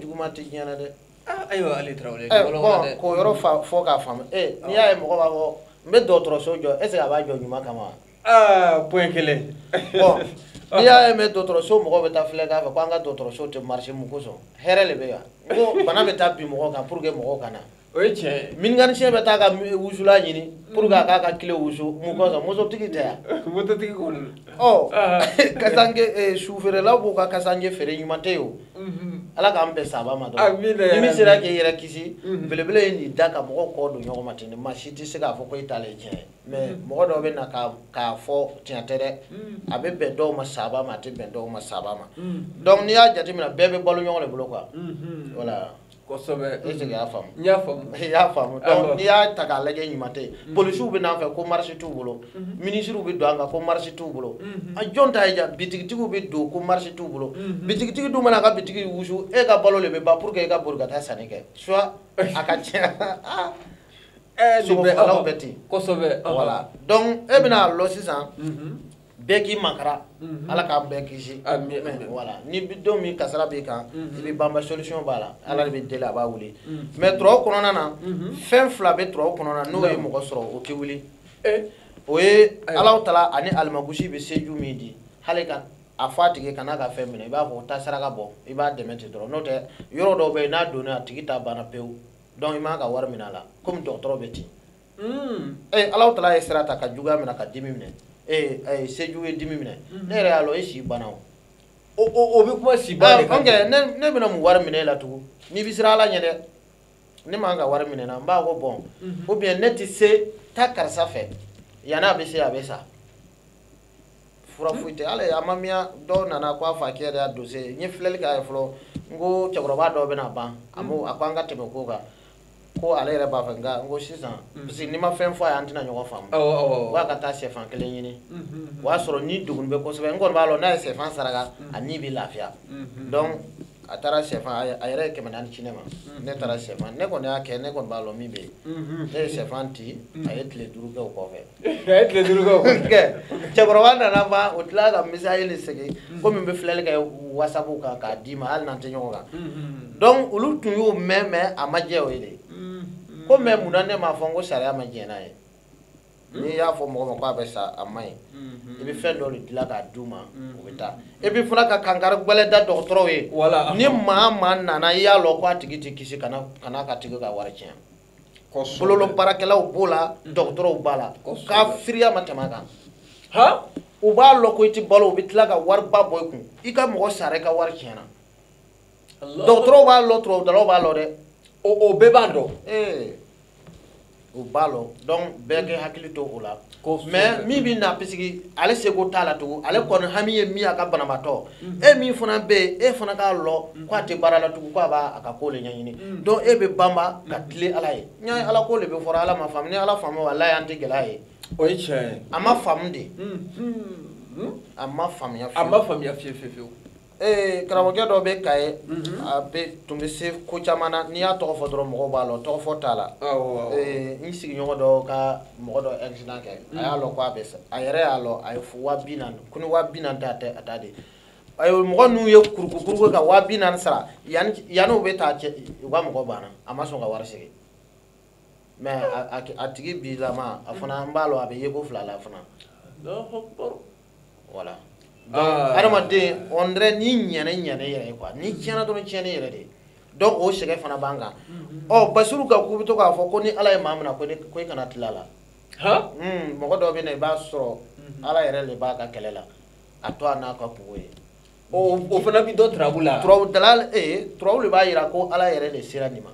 juguman tɛ diɲɛ na dɛ Ah, ayiwa Ali Tarawele eh, k'o yɔrɔ fɔ k'a faamu eh, n'i y'a ye mɔgɔ b'a fɔ n bɛ dɔgɔtɔrɔso jɔ est ce que a b'a jɔ ɲuman kama wa ah, point kelen n'i y'a ye mɛ dɔgɔtɔrɔso mɔgɔw bɛ taa filɛ k'a fɔ ko an ka dɔgɔtɔrɔso tɛ marché mun kosɔn hɛrɛ de bɛ yan ko bana bɛ taa bin mɔgɔw kan pour que mɔgɔw ka na o ye tiɲɛ ye mécanicien bɛ taa ka wusula ɲini pour que a k'a ka kile wusu mun kosɔn mototigi tɛ yan mototigi kɔni ɔ kasange sufeerelaw b'u ka kasange feere ɲuman tɛ yen o ala k'an bɛn sababu ma dɔrɔn ni min sera k'i yɛrɛ kisi belebele ye nin da ka mɔgɔw kɔ don ɲɔgɔn ma ten maa si tɛ se k'a fɔ ko e t'ale tiɲɛ ye mais mɔgɔ dɔw bɛ na k'a fɔ tiɲɛ tɛ dɛ a bɛ bɛn dɔw ma sababu ma a tɛ bɛn dɔw ma sababu ma donc n'i y'a jateminɛ bɛɛ bɛ balo ɲɔgɔn de bolo quoi voilà kosɛbɛ est ce que i y'a faamu n y'a faamu i y'a faamu donc n'i y'a ta k'a lajɛ ɲuman tɛ yen polisiw bɛ n'an fɛ ko marché t'u bolo minisiriw bɛ don an kan ko marché t'u bolo a jɔn ta ye ja bitigitigiw bɛ don ko marché t'u bolo bitigitigi dun mana a ka bitigi wusu e ka balo de bɛ ban pour que e ka boli ka taa sanni kɛ soit a ka tiɲɛ sogofagalaw bɛ ten kosɛbɛ voilà donc e bɛna a lɔ sisan bɛɛ k'i makara mhm. ala k'an bɛɛ kisi voilà ni don min kasara b'i kan mhm. i bɛ banba solution b'a la ala de bɛ deli a b'a wuli mhm. mais turaw kɔnɔna na fɛn fila bɛ turaw kɔnɔna na n'o ye mɔgɔ sɔrɔ o tɛ wuli eh. o ye alaw tala ani alimangusi bɛ seju min di hali ka a fɔ a tigi kana ka fɛn minɛ i b'a fɔ taa saraka bɔ i b'a dɛmɛ ten dɔrɔn n'o tɛ yɔrɔ dɔw bɛ yen n'a donna a tigi ta banna pewu donc i man ka wari minɛ a la komi dɔgɔtɔrɔ bɛ ten ee alaw tala ye sira ta ka juguya minɛ ka dimi minɛ ee a ye seju ye dimi minɛ ne yɛrɛ y'a lɔ e si banna o o bɛ kuma si ban de kan kɛ ne bɛna mun wari minɛ e la tugun n'i bɛ siran ala ɲɛ dɛ ne man ka wari minɛ na n b'a ko bon ou bien ne tɛ se taa karisa fɛ yanni a bɛ se a bɛ sa fura foyi tɛ hali a ma miya dɔw nana ko a fakɛ yɛrɛ y'a dose n ye filɛli k'a ye fɔlɔ n ko cɛkɔrɔba dɔw bɛna ban a ko an ka tɛmɛ ko kan ko ale yɛrɛ b'a fɛ nka n ko sisan mm. parce que n'i ma fɛn fɔ a ye an tɛna ɲɔgɔn faamu wa ka taa sɛfan kelen ɲini mm-hmm. o y'a sɔrɔ ni degun bɛ kosɛbɛ n kɔni b'a lɔ n'a ye sɛfan saraka mm. a ni bɛ lafiya mm-hmm. donc a taara sɛfan a yɛrɛ ye kɛmɛ naani ci ne ma mm-hmm. ne taara sɛfan ne kɔni y'a kɛ ne kɔni b'a lɔ min bɛ yen ne ye sɛfan ti a ye tile duuru kɛ o kɔfɛ cɛkɔrɔba nana ban o tila ka misali de segin komi n bɛ filɛli kɛ wasapu kan k'a d'i ma hali n'an tɛ ɲɔgɔn kan donc olu tun y'o mɛn mais a ma jɛ o ye de ko mais munna ne m'a fɔ n ko sariya ma jɛn n'a ye n'i y'a fɔ mɔgɔ ma k'a bɛ sa a ma ɲi mm-hmm. i bɛ fɛn dɔ de dilan k'a d'u ma mm-hmm. u bɛ taa et puis fana ka kankari gɛlɛn da dɔgɔtɔrɔw ye ni maa maa nana i y'a lɔ k'a tigi tɛ kisi kana k'a tigi ka wari tiɲɛ. bololabaarakɛlaw b'o la mm. dɔgɔtɔrɔw b'a la k'a firiya ma tɛmɛ kan ha u b'a lɔ ko i ti balo u bɛ tila ka wariba bɔ i kun i ka mɔgɔ sara i ka wari tiɲɛna dɔgɔtɔrɔw b'a lɔ turabudalaw b'a lɔ dɛ o bɛɛ b'a dɔn o b'a lɔ donc bɛɛ k'i hakili to o la mais min bɛ na puisque ale seko t'a la tugun ale kɔni hami ye min a ka banabaatɔ e min fana bɛ yen e fana k'a lɔ k'a tɛ baara la tugun k'a b'a ka ko de ɲɛɲini donc e bɛ banba ka tilen ala ye n ye ala ko de bɛ fɔra ala ma faamu ni ala faamu walayi an tɛ gɛlɛya ye o ye tiɲɛ ye a ma faamu de a ma faamuya a ma faamuya fiye fiye fiyewu ee karamɔgɔkɛ dɔ bɛ Kaye mhm. a bɛ tun bɛ se ko caman na n'i y'a tɔgɔ fɔ dɔrɔn mɔgɔw b'a lɔn tɔgɔ fɔ t'a la n sigiɲɔgɔn dɔ ka mɔgɔ dɔ accident kɛ a y'a lɔn k'a bɛ sa a yɛrɛ y'a lɔn a ye wa bi naani ko ni wa bi naani tɛ a tɛ a t'a di mɔgɔ ninnu ye kurukuruku ka wa bi naani sara yanni yanni u bɛ taa cɛ u ka mɔgɔ banna a ma sɔn ka wari segin mais a tigi bi lama a fana n b'a lɔ a bɛ yeko fila la fana voilà ah. adamaden on dirait ni ɲɛnɛ ɲɛnɛ yɛrɛ ye quoi ni tiɲɛna dɔrɔn tiɲɛni yɛrɛ de donc o sɛgɛn fana b'an kan mm-hmm. ɔ basiru ka k'u bɛ to k'a fɔ ko ni ala ye maa mina ko i kana tila a la hmm, mɔgɔ dɔ bɛ na i b'a sɔrɔ mm-hmm. ala yɛrɛ de b'a ka kɛlɛ la a to a n'a ka kunko ye o fana bɛ dɔn turabu la turabu dalal ee turabu de b'a yira ko ala yɛrɛ de sera nin ma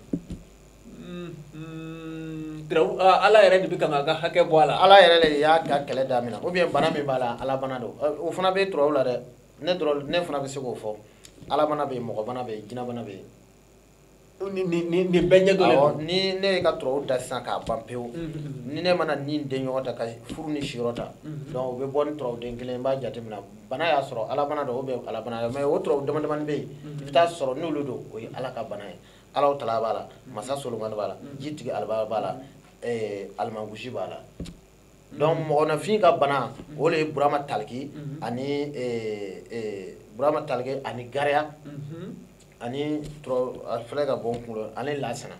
ala yɛrɛ de bɛ k'a ka hakɛ bɔ a la ala yɛrɛ de y'a ka kɛlɛ damina ou bien bana min b'a la ala bana don o fana bɛ turabu la dɛ ne ne fana bɛ se k'o fɔ ala bana bɛ yen mɔgɔ bana bɛ yen jinɛ bana bɛ yen nin bɛɛ ɲɛ dɔn ni ne ye ka turabu da sisan k'a ban pewu ni ne mana ni den ɲɔgɔn ta ka furu ni siyɔrɔ ta donc o bɛ bɔ ni turabu den kelen n b'a jateminɛ bana y'a sɔrɔ ala bana don ou bien ala bana mais o turabu damadamani bɛ yen i bɛ taa sɔrɔ n'olu don o ye ala ka bana ye alaw tala b'a la masa solomani b'a la jitigi alaba b'a la eh, alimangusi b'a la donc mɔgɔnafin ka bana o le ye burama taliki ani eh, eh, burama taliki ani gariya ani tɔrɔ a filɛ ka bɔ n kunkolo ani lasana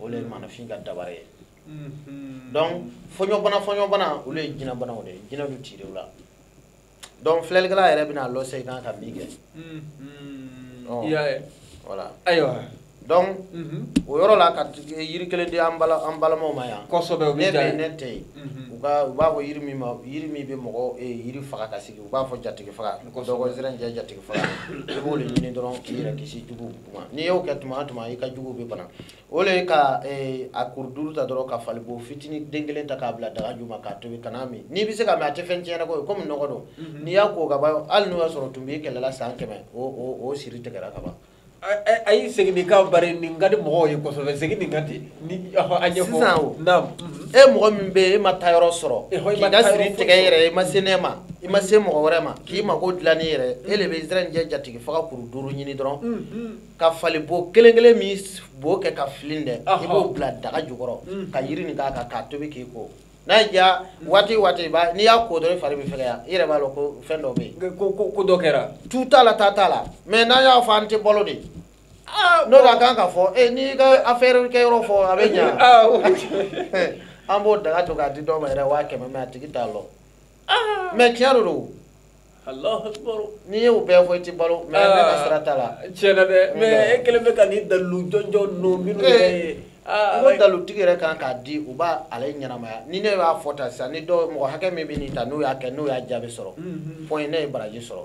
o le ye maanafin ka dabara ye donc fɔɲɔbana fɔɲɔbana olu ye jinɛbanaw de ye jinɛ du tire u la donc filɛlikɛla yɛrɛ bɛn'a lɔn sa i kan ka min kɛ voilà ayiwa donc o yɔrɔ la ka yiri kelen di an balimaw ma yan kosɛbɛ o bɛ diya ye ne tɛ yen u ka u b'a fɔ yiri min ma yiri min bɛ mɔgɔ yiri faga ka sigi u b'a fɔ jatigi faga dɔ ko zɛrɛnjɛ jatigi faga i b'o de ɲini dɔrɔn k'i yɛrɛ kisi juguw ma n'i y'o kɛ tuma o tuma i ka juguw bɛ bana o le ye ka eh, a kuru duuru ta dɔrɔn ka falibo fitinin den kelen ta k'a bila daga ju ma k'a tobi kan'a min n'i bɛ se k'a min a tɛ fɛn tiɲɛ nka o ye komi nɔgɔ don mhm. n'i y'a ko ka ban hali n'o y'a sɔrɔ u tun b'i kɛlɛ la san kɛmɛ o o o siri tigɛra ka ban. ayi segin nin kan bari nin ka di mɔgɔw ye kosɛbɛ segin nin kan ten ni a ɲɛfɔ sisan o naam mhm. e mɔgɔ min bɛ yen e ma taayɔrɔ sɔrɔ e k'i ka siri tigɛ i yɛrɛ ye i ma se ne ma i ma se mɔgɔ wɛrɛ ma k'i mako dilan i yɛrɛ ye e de bɛ zɛrɛnjɛ jatigi faga kuru duuru ɲini dɔrɔn mhm. ka fali bo kelen kelen min bo kɛ ka filin dɛ i b'o bila daga jukɔrɔ mm. ka yiri nin k'a kan k'a tobi k'i ko n'a y'i diya mm. waati o waati b'a n'i y'a ko dɔrɔn i fari bɛ fɛgɛya i yɛrɛ b'a dɔn ko fɛn dɔ bɛ yen ko ko ko dɔ kɛra tu t'a la ta t'a la mais n'an y'a fɔ an tɛ balo dɛ ah, n'o ka kan ka fɔ ee eh, n'i ka affaire kɛ yɔrɔ fɔ a bɛ ɲa ah, an b'o daga to k'a di dɔw ma yɛrɛ waa kɛmɛ mais a tigi t'a lɔ mɛ tiɲɛ de don n'i y'o bɛɛ fɔ i tɛ balo mɛ ne ka sira t'a la tiɲɛ na dɛ mɛ e kelen bɛ ka nin dalilu jɔnjɔn ninnu minnu yɛrɛ eh, ye ah, n ko dalutigi yɛrɛ kan k'a di u b'a ale ɲɛnamaya ni ne y'a fɔ ta sisan ni dɔw mɔgɔ hakɛ min bɛ nin ta n'o y'a kɛ n'o y'a jaabi sɔrɔ fɔ mm-hmm. ne ye baraji sɔrɔ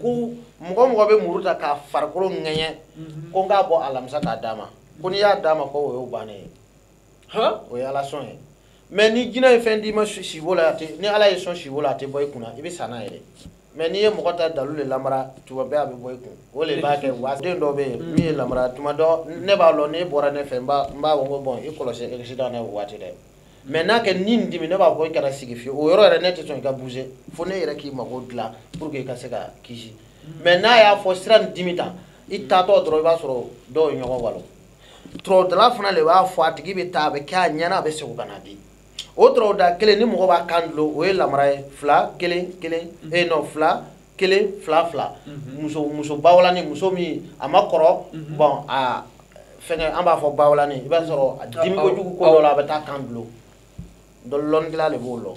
ko mɔgɔ mɔgɔ bɛ muru ta k'a farikolo ŋɛɲɛ mhm. ko n k'a bɔ alamisa k'a d'a ma ko n'i y'a d'a ma ko o y'o bannen ye o ye ala sɔn ye mɛ ni jinɛ ye fɛn d'i ma sibo la ni ala ye sɔn sibo la a tɛ bɔ i kunna i bɛ sa n'a ye mɛ n'i ye mɔgɔ ta dalu de lamara tuma bɛɛ a bɛ bɔ i kun o de b'a kɛ wa den dɔ bɛ yen min ye lamara tuma dɔ ne b'a lɔn n'e bɔra ne fɛ n b'a fɔ ko bɔn i kɔlɔsi accident na o waati dɛ mɛ n'a kɛ ni nin dimi ne b'a fɔ i kana sigi fiyewu o yɔrɔ yɛrɛ ne tɛ sɔn i ka bouger fo ne yɛrɛ k'i mago dilan pour que i ka se ka kisi mɛ n'a y'a fɔ sira nin dimi ta i taatɔ dɔrɔn i b'a sɔrɔ dɔw ye ɲɔgɔn walon tɔrɔdala fana de b'a fɔ a tigi bɛ taa a bɛ kɛ a ɲɛna a bɛ segin ka na di o tɔrɔda kelen ni mɔgɔ b'a kan dulon o ye lamara ye fila kelen kelen e non fila kelen fila fila mhm. muso muso bawlani muso min a ma kɔrɔ mhm. bɔn a fɛngɛ an b'a fɔ bawlani i b'a sɔrɔ a dimi kojugu ko dɔ la a bɛ t'a kan dulon dɔn lɔnnikɛla de b'o lɔn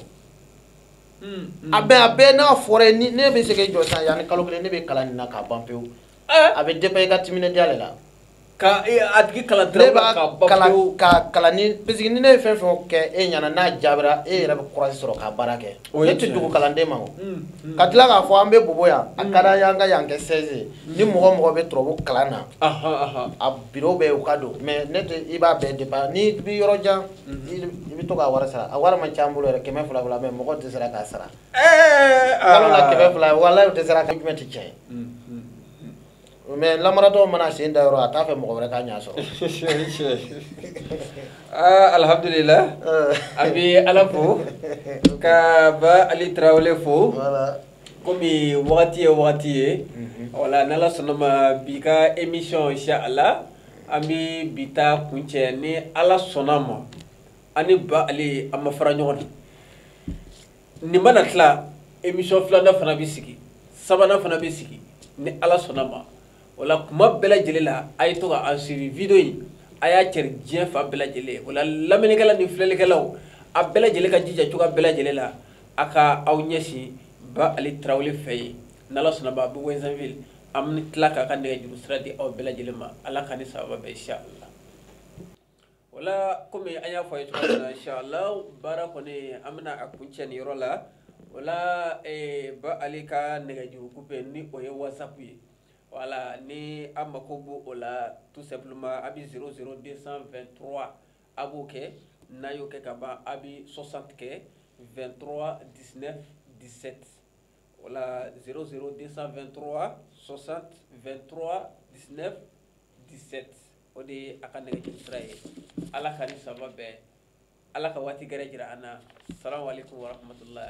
hmm, hmm. a bɛ a bɛɛ n'a fɔra ye ne bɛ se k'i jɔ sisan yanni kalo kelen ne bɛ kalan nin na k'a ban pewu eh? a bɛ dépend i ka timinadiya de la ka e, a tigi kalan dɔrɔn ka kalan ka kalan ni parce que ni ne ye fɛn fɛn kɛ e ɲɛna n'a jaabira e yɛrɛ bɛ kurazi sɔrɔ ka baara kɛ ne tɛ dogo kalanden ma o mm, mm. ka tila k'a fɔ an bɛ bobo yan a ka d'an ye an ka yan kɛ siège mm. ni mɔgɔ mɔgɔ bɛ turabu kalan na a biro bɛ u ka don mɛ ne tɛ i b'a bɛɛ dépend n'i bɛ yɔrɔ jan i bɛ to k'a wari sara a wari man ca an bolo yɛrɛ kɛmɛ fila fila mɛ mɔgɔ tɛ sera k'a sara eh, kalo la ah. kɛmɛ fila walayi o tɛ sera ka jumɛn tɛ tiɲɛ ye. mais lamaratɔ mana sen da yɔrɔ a t'a fɛ mɔgɔ wɛrɛ ka ɲa sɔrɔ ah, alhamdulila an bɛ ala fo ka ba ali tarawele fo komi wagati ye wagati ye mhm. wala n'ala sɔnna ma bi ka émission inshallah an bɛ bi ta kuncɛ ni ala sɔnna ma ani ba ali an ma fara ɲɔgɔn na nin mana tila émission filanan fana bɛ sigi sabanan fana bɛ sigi ni ala sɔnna ma o la kuma bɛɛ lajɛlen la a ye to ka an suivi video in a y'a cari diɲɛ fan bɛɛ lajɛlen o la lamɛnnikɛla ni filɛlikɛlaw a bɛɛ lajɛlen ka jija cogoya bɛɛ lajɛlen la a ka aw ɲɛsin ba ali tarawele fɛ yen n'ala sɔnna ma a bɛ ouezzinville an bɛ tila k'a ka nɛgɛjuru sira di aw bɛɛ lajɛlen ma ala k'a ni sababa bɛn inshallah wala kɔmi an y'a fɔ a ye cogo min na inshallah baara kɔni an bɛna a kuncɛ nin yɔrɔ la wala ba ali ka nɛgɛjuru kupe ni o ye whatsapp ye wala ni a mako b'o o la tout simplement a bɛ 00223 a b'o kɛ n'a y'o kɛ ka ban a bɛ 60 kɛ 23 19 17 wala 00223 60 23 19 17 o de ye a ka nɛgɛjuru sira ye ala ka ni saba bɛn ala ka waati gɛrɛ jira an na salamu aleykum warahmatullahi